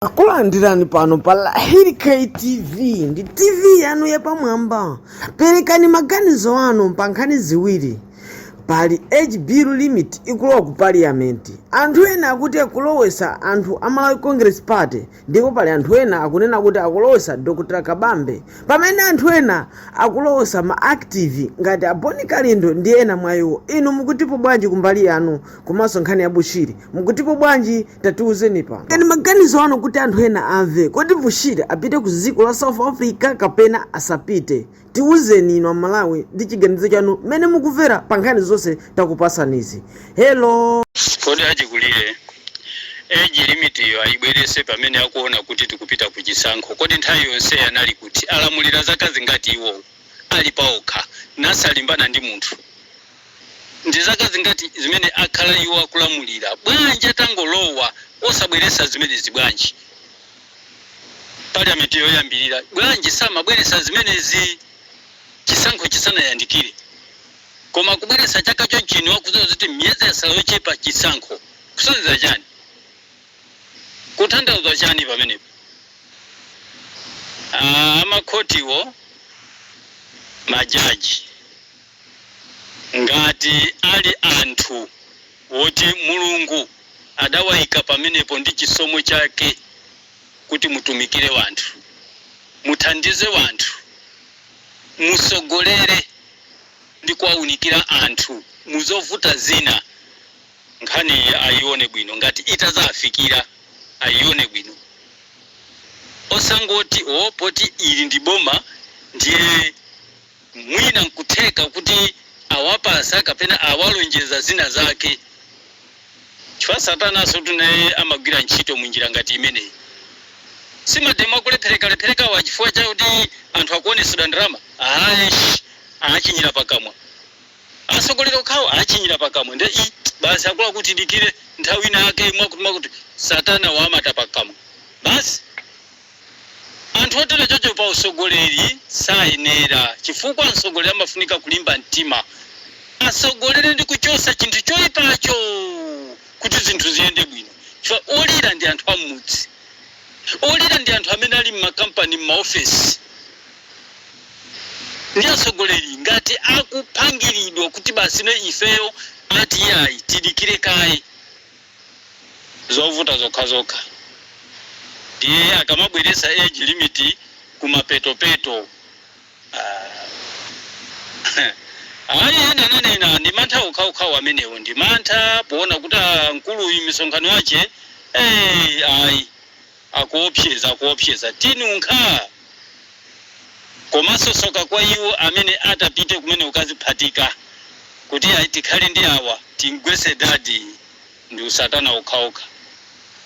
akulandirani pano pa lahiri ktv ndi tv yanu yapamwamba perekani maganizo anu pa nkhani ziwiri pali age limit ikulowa ku parliament anthu ena akuti akulowesa anthu a malawi congress party ndipo pali anthu ena akunena kuti akulowesa dr kabambe pamene anthu ena akulowesa ma active ngati aboni kalindo ndi ena mwa iwo inu mukutipo bwanji kumbali yanu komanso nkhani ya bushiri mukutipo bwanji tatiuzeni perekani maganizo anu kuti anthu ena amve kodi bushiri apite ku dziko la south africa kapena asapite tiuzeni inu amalawi ndi chiganizo chanu mmene mukumvera pa nkhani zonse takupatsanizi hello kodi achikulire age limit yo ayibwerese pamene akuona kuti tikupita ku chisankho kodi nthawi yonse anali kuti alamulira zaka zingati iwowo ali paokha nasalimbana ndi munthu Ndi zaka zingati zimene akhala iwo akulamulira? Bwanji atangolowa osabweretsa zimenezi? Bwanji Parliament yoyambirira, bwanji samabweretsa zimenezi chisankho chisanayandikire? Koma akubweretsa chaka chonchino akudziwa zoti miyezi yatsala yochepa chisankho. Kusonyeza chani? Kutanthauza chani pamenepo? Aaa, amakhotiwo, majaji. Ngati ali anthu woti Mulungu adawaika pamenepo ndi chisomo chake kuti mutumikire wanthu, muthandize wanthu, musogolere ndi kuwaunikira anthu muzovuta zina, nkhaniyi ayione bwino ngati itazaafikira ayione bwino osangoti oh poti ili ndi boma ndiye. Mwina nkutheka kuti awapatsa kapena awalonjeza zina zake chifukwa satanansotu naye amagwira ntchito mu njira ngati imeneyi. Si mademo akulepherekalepherekawa chifukwa chakuti anthu akuonetsedwa ndalama? Aish! Achinyira pakamwa. Atsogoleri okhawo achinyira pakamwa nde ii basi akuluakulu tidikire nthawi ina yake yakutiyakuti. Satana wamata pakamwa basi. Anthu otere choncho pa usogoleri sayenera chifukwa msogoleri amafunika kulimba mtima asogolere ndi kuchosa chinthu choipacho kuti zinthu ziyende bwino chifukwa olira ndi anthu ammudzi, olira ndi anthu amene ali mma company mma ofesi nde asogoleri ngati akupangiridwa kuti basi no ifeyo ati iyayi tidikire kaye. zovuta zokhazokha ndiye akamabweretsa age limit kumapetopeto aah ayi ena enanena ndi mantha okhaokhawo amenewo ndi mantha poona kuti ah, mkuluyu misonkhano yache eh, ayi akuopseza akuopseza tinunkha! komanso soka kwa iwo amene atapite kumene kukaziphatika kuti ayi tikhale ndi awa timgwese dadi ndi usatana okhaokha.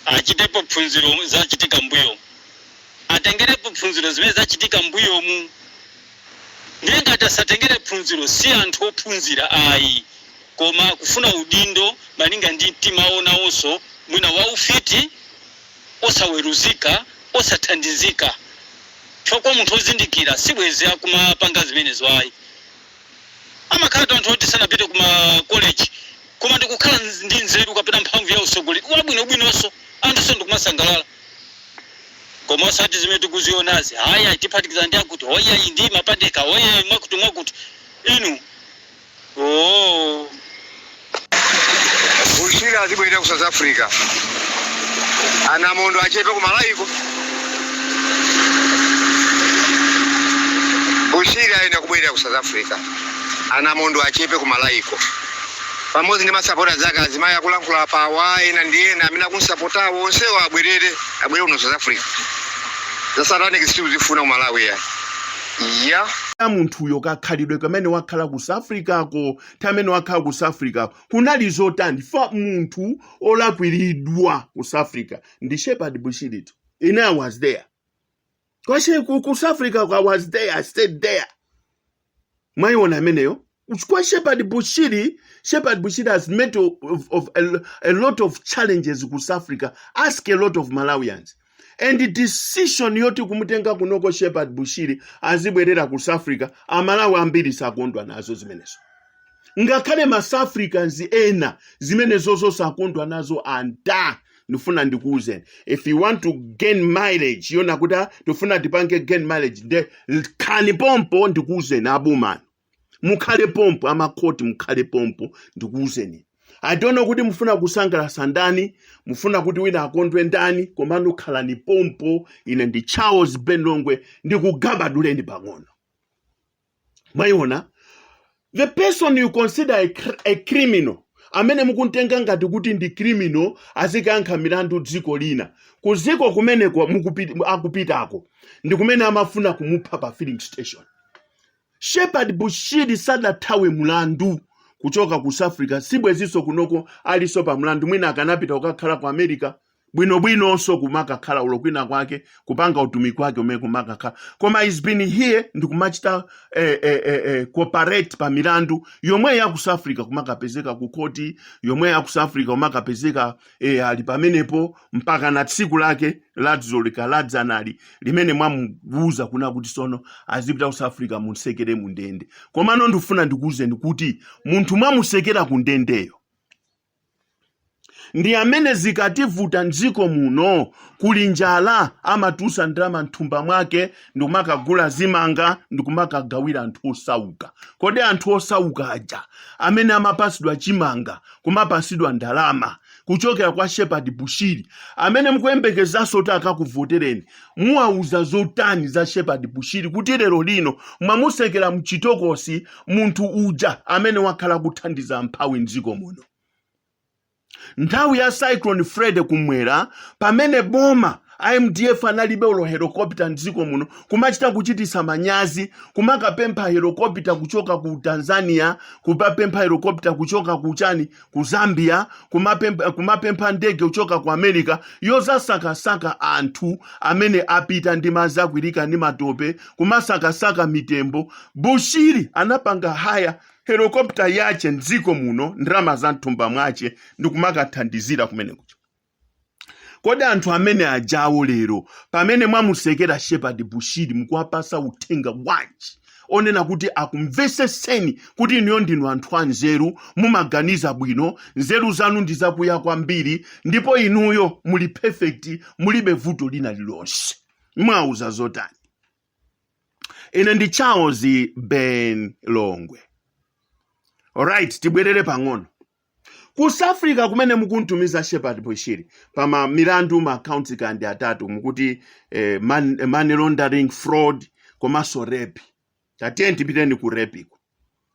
achitepo phunziro zachitika mbuyomu. atengerepo phunziro zimene zachitika mbuyomu. ndiye ngati asatengere phunziro si anthu ophunzira ayi koma kufuna udindo malinga ndi mtima wawo nawonso mwina waufiti. osaweruzika, osathandizika chifukwa kwa munthu ozindikira sibwenzi akumapanga zimenezo ayi. Amakhalatu anthu oti sanapite ku ma college koma ndikukhala ndi nzeru kapena mphamvu ya utsogoleri wabwinobwinonso anthunso ndikumasangalala. Koma osati zimene tikuzionazi, ayi ayi tiphatikizana ndi akuti, oh ayi ndi Mapandeka, oh ayi mwakutimwakuti. Inu. Ooo. Bushiri azibwerera ku South Africa. Anamondwe achepe ku Malawiko. Bushiri ayenera kubwerera ku South Africa. Anamondwe achepe ku Malawiko. Pamodzi ndi masapota zake azimayi akulankhula apawa ena ndi ena amene akumsapotawo onsewo abwerere abwere kuno South Africa. Za satanic sitikuzifuna ku Malawi ya. ya. ya munthuyo kakhalidwe kamene wakhala ku south africako nthawi imene wakhala ku south africako kunali zotani chifukwa munthu olakwiridwa ku south africa ndi shepherd bushiritu ine i was there kwache ku, ku south africa i was there i stayed there mwayiona ameneyo Chifukwa Shepherd Bushiri, Shepherd Bushiri has met a lot, of, of a, lo- a lot of challenges ku South Africa. Ask a lot of Malawians. And the decision yoti kumutenga kunoko Shepherd Bushiri azibwerera ku South Africa, Amalawi ambiri sakondwa nazo zimenezo. ngakhale ma South Africans ena zimenezo sakondwa nazo anta ndifuna ndikuwuzeni if you want to gain mileage yonena kuti "Ah, tifuna tipange gain mileage nde khalani pompo ndikuwuzeni aboma inu mukhale pompo amakhoti mukhale pompo ndikuwuzeni i don't know kuti mufuna kusangalatsa ndani mufuna kuti wina akondwe ndani komano khalani pompo ine ndi charles ben longwe ndikugabaduleni pang'ono mwayiona the person you consider a, cr- a criminal amene mukumtenga ngati kuti ndi criminal azikayankha milandu dziko lina ku dziko kumene akupitako ndi kumene amafuna kumupha pa filling station Shepherd Bushiri sadathawe mlandu kuchoka ku South Africa sibwezinso kunoko alinso pa mlandu mwina akanapita kukakhala ku America bwinobwinonso kumakakhala ulo kwina kwake kupanga utumiki wake umene kumakakhala koma he's been here ndikumachita eh, eh, eh, eh, cooperate pa milandu yomwe ya ku South Africa kumakapezeka ku khoti yomwe ya ku South Africa kumakapezeka e, ali pamenepo mpaka na tsiku lake ladzolika ladzanali limene mwamuwuza kuna kuti sono azipita ku south africa munsekere mu ndende komano ndifuna ndikuwuzeni kuti munthu mwamusekera ku ndendeyo ndi amene zikativuta mdziko muno kuli njala amatusa ndrama mthumba mwake ndikumakagula zimanga ndikumakagawira anthu osauka kodi anthu osauka aja amene amapasidwa chimanga kumapasidwa ndalama kuchokera kwa shepard bushiri amene mukuyembekezanso kuti akakuvotereni muwauza zotani za shepard bushiri kuti lero lino mwamusekera mchitokosi munthu uja amene wakhala kuthandiza mphawi mdziko muno nthawi ya cyclone freddy kumwera pamene boma a mdf analibe ulo helokopita mdziko muno kumachita kuchitisa manyazi kumakapempha helokopita kuchoka ku tanzania kumapempha helokopita kuchoka ku chani ku zambia kumapempha, kumapempha ndege kuchoka ku america yozasakasaka anthu amene apita ndi madzi akwirika ndi matope kumasakasaka mitembo bushiri anapanga haya helicopter yache mdziko muno ndrama za mthumba mwache ndikumakathandizira kumene kuja kodi anthu amene ajawo lero pamene mwamusekera shepard bushiri mukuwapasa uthenga wanji onena kuti akumveseseni kuti inuyo ndinu anthu anzeru mumaganiza bwino nzeru zanu ndi zakuya kwambiri ndipo inuyo muli perfect mulibe vuto lina lilonse mwauza zotani ine ndi charles ben longwe alright tibwerere pang'ono ku south africa kumene mukuntumiza shepard bushiri pa ma milandu ma count kandi atatu mukuti eh, man, money laundering fraud komanso rape tatiyeni tipiteni ku rape iko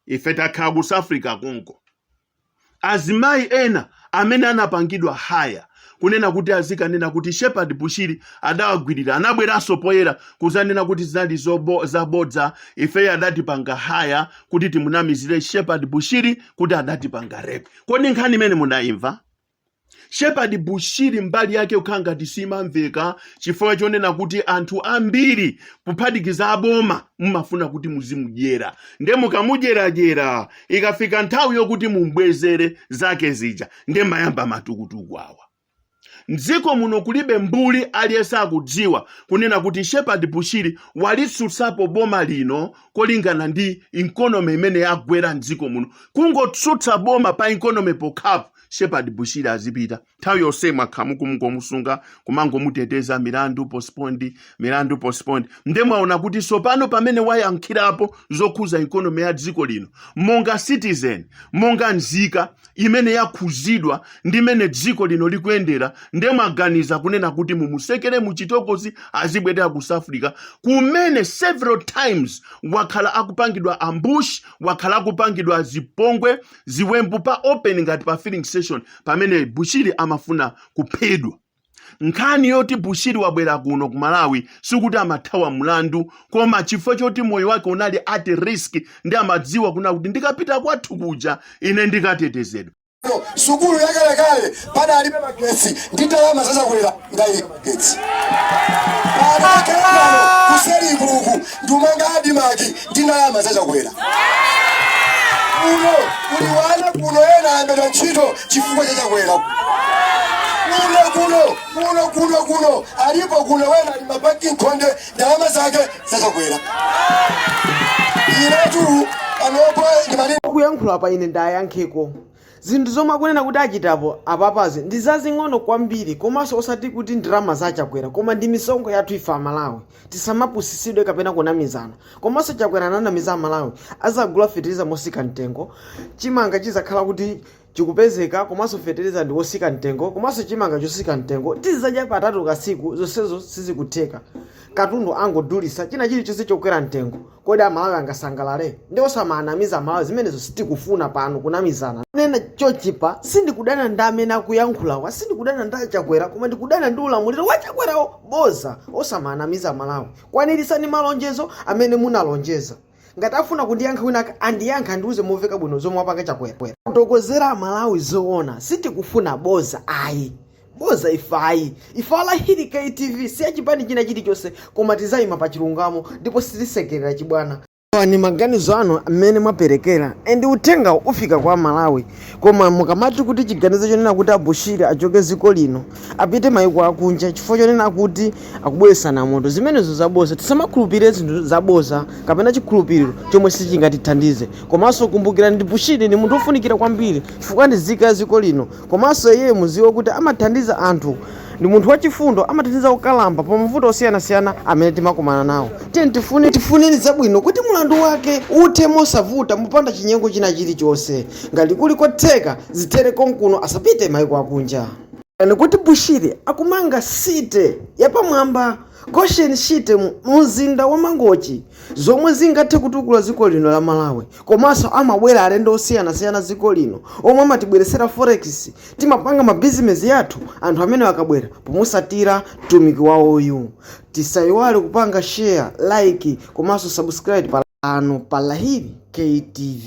ife takhala ku south africa konko azimayi ena amene anapangidwa haya kunena kuti azikanena kuti shepard bushiri adawagwirira anabweranso poyera kuzanena kuti zinali zobo- zabodza ifeyo adatipanga haya kuti timunamizire shepard bushiri kuti adatipanga rape kodi nkhani imene mudayimva Shepherd Bushiri mbali yake kukhala ngati simamveka chifukwa chonena kuti anthu ambiri kuphatikiza aboma mumafuna kuti muzimudyera nde mukamudyeradyera ikafika nthawi yokuti mumbwezere zake zija nde mayamba matukutuku awa mdziko muno kulibe mbuli aliyense akudziwa kunena kuti Shepherd Bushiri walitsutsapo boma lino kolingana ndi ikonomi imene yagwera mdziko muno kungotsutsa boma pa ikonomi pokhapo shepherd bushiri azipita nthawi yonse mwakhala mukungomusunga kumangomuteteza milandu postponed milandu postponed nde mwaona kuti tsopano pamene wayankhulapo zokhuza ikonomi ya dziko lino monga citizen monga nzika imene yakhuzidwa ndi mmene dziko lino likuyendera nde mwaganiza kunena kuti mumutsekere muchitokosi azibwerera ku south africa kumene several times wakhala akupangidwa ambush wakhala akupangidwa zipongwe ziwembu pa open ngati pa filling station pamene bushiri amafuna kuphedwa nkhani yoti bushiri wabwera kuno ku malawi sikuti amathawa mlandu koma chifukwa choti moyo wake unali at risk nde amadziwa kunena kuti ndikapita kwathu kuja ine ndikatetezedwa sukulu yakalekale padalibe magetsi ndi ndalama za chakwera ngaili magetsi anakeano kuselikuku ndumanga adimaki ndi ndalama za chakwera kuno kuli ana kuno ena alembedwa ntchito chifukwa cha chakwera kuno kuno kuno kuno kuno alipo kuno wena ali mabaki nkhonde ndalama zake za chakwera inetu panopo ndimati kuyankhula pa ine ndayankheko Zinthu zomwe akunena kuti achitapo apapazi ndi zazing'ono kwambiri komanso osati kuti ndalama za Chakwera koma ndi misonkho yathu ife Amalawi. Tisamapusisidwe kapena kunamizana. Komanso Chakwera ananamiza Amalawi, azagula fetereza mosika mtengo, chimanga chizakhala kuti chikupezeka komanso fetereza ndi wosika mtengo komanso chimanga chosika mtengo tizizadya katatu pa tsiku zonsezo sizikutheka. Katundu angodulisa china chilichonse chokwera mtengo. kodi amalawi angasangalale nde osamaanamiza amalawi zimenezo sitikufuna pano kunamizana nena chochipa sindikudana ndi amene akuyankhulawa sindikudana ndi achakwera koma ndikudana ndi ulamuliro wa chakwerawo boza osamaanamiza amalawi kwanirisani malonjezo amene munalonjeza ngati afuna kundiyankha wina andiyankha andiuze moveka bwino zomwe wapanga chakwera kufotokozera amalawi zoona sitikufuna boza ayi boza ife ayi ifera hili ktv si ya chipani china chilichonse koma tizayima pa chilungamo ndipo sitisekerera chibwana Awa ni maganizo anu amene mwaperekera and uthenga ufika kwa malawi koma mukamati kuti chiganizo chonena kuti abushiri achoke ziko lino apite maiko akunja chifukwa chonena kuti akubweresana moto zimenezo zaboza tisamakhulupirire zinthu zaboza kapena chikhulupiriro chomwe sichingatithandize komanso kumbukirani kuti bushiri ndi munthu wofunikira kwambiri chifukwa ndi nzika ya ziko lino Komanso iye muziwe kuti amathandiza anthu ndi munthu wachifundo amathandiza okalamba pa mavuto osiyanasiyana amene timakumana nawo. Tiyeni timufunireni zabwino kuti mulandu wake uthe mosavuta mopanda chinyengo china chilichonse. Ngati kuli kotheka zithere konkuno asapite maiko akunja. Onani kuti Bushiri akumanga city yapamwamba, Goshen city, mu mzinda wa Mangochi. zomwe zingathe kutukula dziko lino la Malawi komanso amabwera alendo osiyanasiyana dziko lino omwe amatibweretsera forex timapanga mabizinesi yathu anthu amene akabwera pomusatira mtumiki wawoyu tisayiwale kupanga share like komanso subscribe pano pa Lahiri ktv